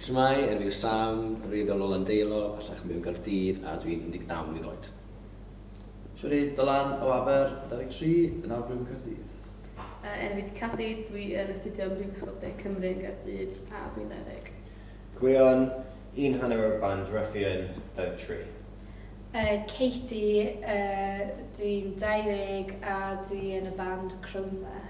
Shwmae, enw yw Sam, rwy o ganolfan Deilo, bellach mewn Caerdydd, a dwi'n 19 mlwydd oed. Shwmae, enw yw Dylan, o Aber, 23, yn nawr byw yn Caerdydd. Enw yw Cathy, dwi yn astudio ym Mhrifysgol De Cymru yn Gaerdydd, a dwi'n 20. Gwion, un hanner o band Ruffian, 23. Katie, dwi'n 20 a dwi yn y band Crowdmere.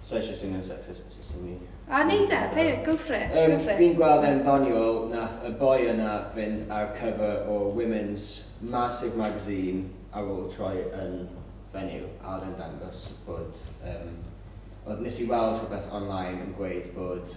Sa eisiau swnio'n sexist, so swn i... A neud e, play it, go for it, go for it. Fi'n gweld e'n ddoniol, nath y boi yna fynd ar cover o Women's massive magazine ar ôl troi yn fenyw, a oedd e'n dangos bod yym oedd... nes i weld rhywbeth online yn gweud bod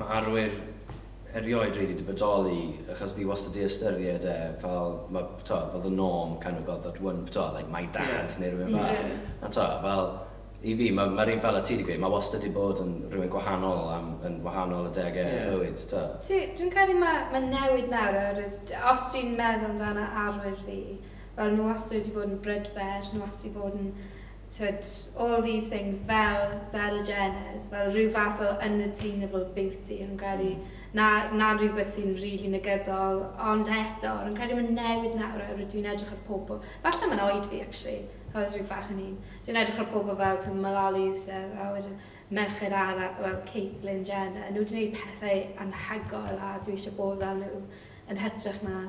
Mae arwyr erioed rili 'di bodoli achos fi wastad 'di ystyried e fel ma' t'o' fel the norm kind of fel that one t'o' like my dad... Ie. ...neu rywun fel... Ie. ...a t'o' fel i fi ma' ma'r un fel o' ti 'di gweud ma' wastad 'di bod yn rywun gwahanol am yn wahanol adege... Ie. ...y bywyd t'o'? Ti dwi'n credu ma' ma'n newid nawr oherwydd t- os dwi'n meddwl amdana arwyr fi fel ma' wastad wedi bod yn brydferth ma' wastad 'di bod yn Tibod, all these things, fel, fel y Jenners, fel rhyw fath o unattainable beauty, o'n i'n credu. Na, na rhywbeth sy'n rili negyddol, ond eto, o'n i'n credu mae'n newid nawr, oherwydd dwi'n edrych ar pobl, falle mae'n oed fi, actually, oherwydd rhyw bach yn hŷn. Dwi'n edrych ar pobl fel, ti'n Malala Yousaf, a wedyn merched ara, wel, Caitlyn Jenner, nhw wedi gwneud pethau anhygoel, a dwi eisiau bod fel nhw, yn hytrach na,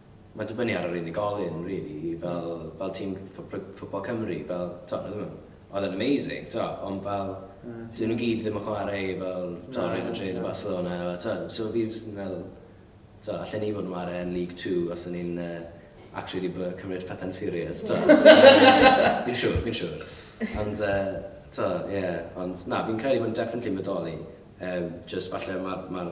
Mae'n dibynnu ar yr unigolyn rili, fel fel tîm Football Cymru, fel t'o' oedden nhw oedd e'n amazing t'o' ond fel dyw nhw gyd ddim yn chwarae i fel t'o' Real Madrid a Barcelona a t'o' so fi jyst yn meddwl t'o' allen ni fod yn chwarae yn League Two os o'n ni'n yy actually 'di bod cymryd pethe'n serious t'o'? Fi'n siŵr fi'n siŵr. Ond yy t'o' ie ond na fi'n credu bod yn definitely yn bodoli yym jyst falle ma'r ma'r